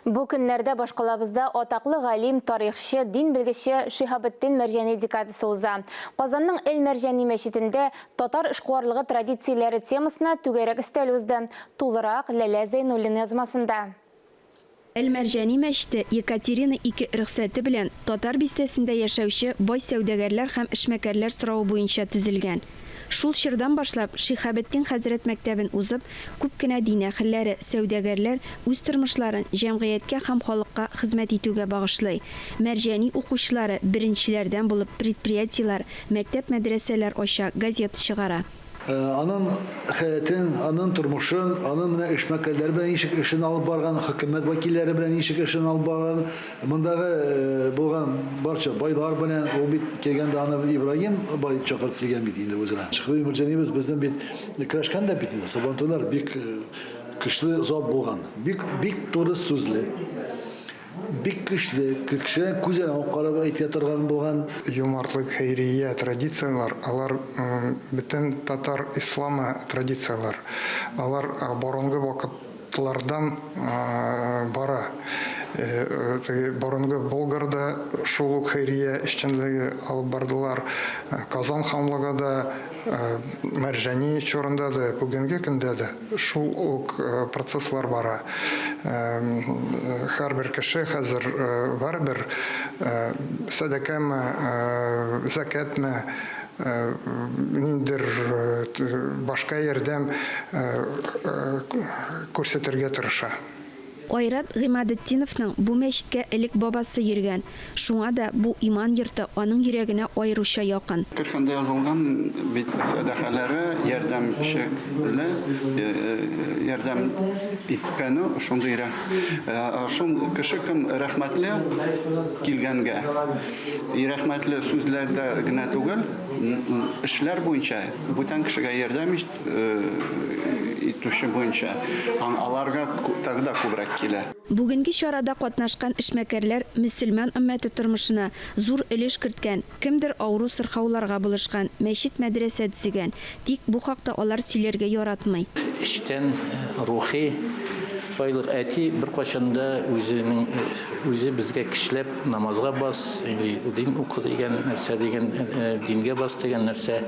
Бу көннәрдә башкалабызда атаклы галим, тарихчы, дин белгече Шиһабетдин Мәрҗани декадасы уза. Казанның Әл-Мәрҗани мәчетендә Татар эшкуарлыгы традицияләре темасына түгәрәк өстәл узды. Тулырак, Ләлә Зәйнуллин язмасында. Әл-Мәрҗани мәчете Екатерина II рөхсәте белән Татар бистәсендә яшәүче бай сәүдәгәрләр һәм эшмәкәрләр соравы буенча төзелгән. Шул чордан башлап, Шиһабетдин хәзрәт мәктәбен узып, күп кенә дин әһелләре, сәүдәгәрләр үз тормышларын җәмгыятькә һәм халыкка хезмәт итүгә багышлый. Мәрҗани укучылары беренчеләрдән булып предприятиеләр, мәктәп-мәдрәсәләр ача, газета чыгара. Анын хәятын, анын тормышын, анын менә эшмәкәрләре белән ничек эшен алып барганын, хөкүмәт вәкилләре белән ничек эшен алып барганын Мондагы булган барча байлар белән, ул бит килгәндә аны Ибраһим бай чакырып килгән бит инде үзенә. Шәхви Мөрҗәнибез безнең бит көрәшкән дә бит инде. Сабантуйлар бик көчле зат булган. Бик бик туры сүзле. Бик көчле, кеше күзенә үк карап әйтә торган булган. Юмартлык, хәйрия, традицияләр, алар бөтен татар исламы традицияләр. Алар борынгы вакыт Тлардан бара. Теге борынгы Болгарда шул ук хәйрия эшчәнлеге алып бардылар. Казан ханлыгы да Мәрҗани чорында да, бүгенге көндә дә шул ук процесслар бара. Һәрбер кеше хәзер барыбер сәдакәме, зәкятме, ниндидер башка ярдәм күрсәтергә тырыша. Айрат Гыймадетдиновның бу мәчеткә элек бабасы йөргән, шуңа да бу иман йорты аның йөрәгенә аеруча якын. Көлфәндә язылган бит сәдакаләре, ярдәм шекелле, ярдәм иткәне шундыйрак. Шул кеше кем рәхмәтле килгәнгә. И рәхмәтле сүзләрдә генә түгел, эшләр буенча, бүтән кешегә ярдәм итүче буенча һәм аларга тагы да күбрәк килә. Бүгенге чарада катнашкан эшмәкәрләр мөселман өммәте тормышына зур өлеш керткән, кемдер авыру-сырхауларга булышкан, мәчет-мәдрәсә төзегән, Тик бу хакта алар сөйләргә яратмый. Эчтән рухи байлык. Әти беркайчан да үзенең үзе безгә кешеләп намазга бас или дин укы дигән нәрсә дигән дингә бас дигән нәрсә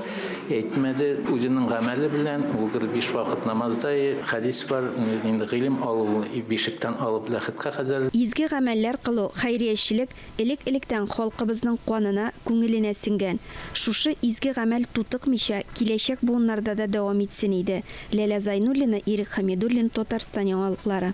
әйтмәде. Үзенең гамәле белән ул гел биш вакыт намазда и хәдис бар инде гыйлем алу бишектән алып ләхеткә кадәр. Изге гамәлләр кылу, хәйриячелек, Элек-электән халкыбызның канына, күңеленә сеңгән. Шушы изге гамәл тутыкмыйча, киләчәк буыннарда да дәвам итсен иде. Ләлә Зайнуллина, Ирек Хәмидуллин, Татарстан яңалыклары.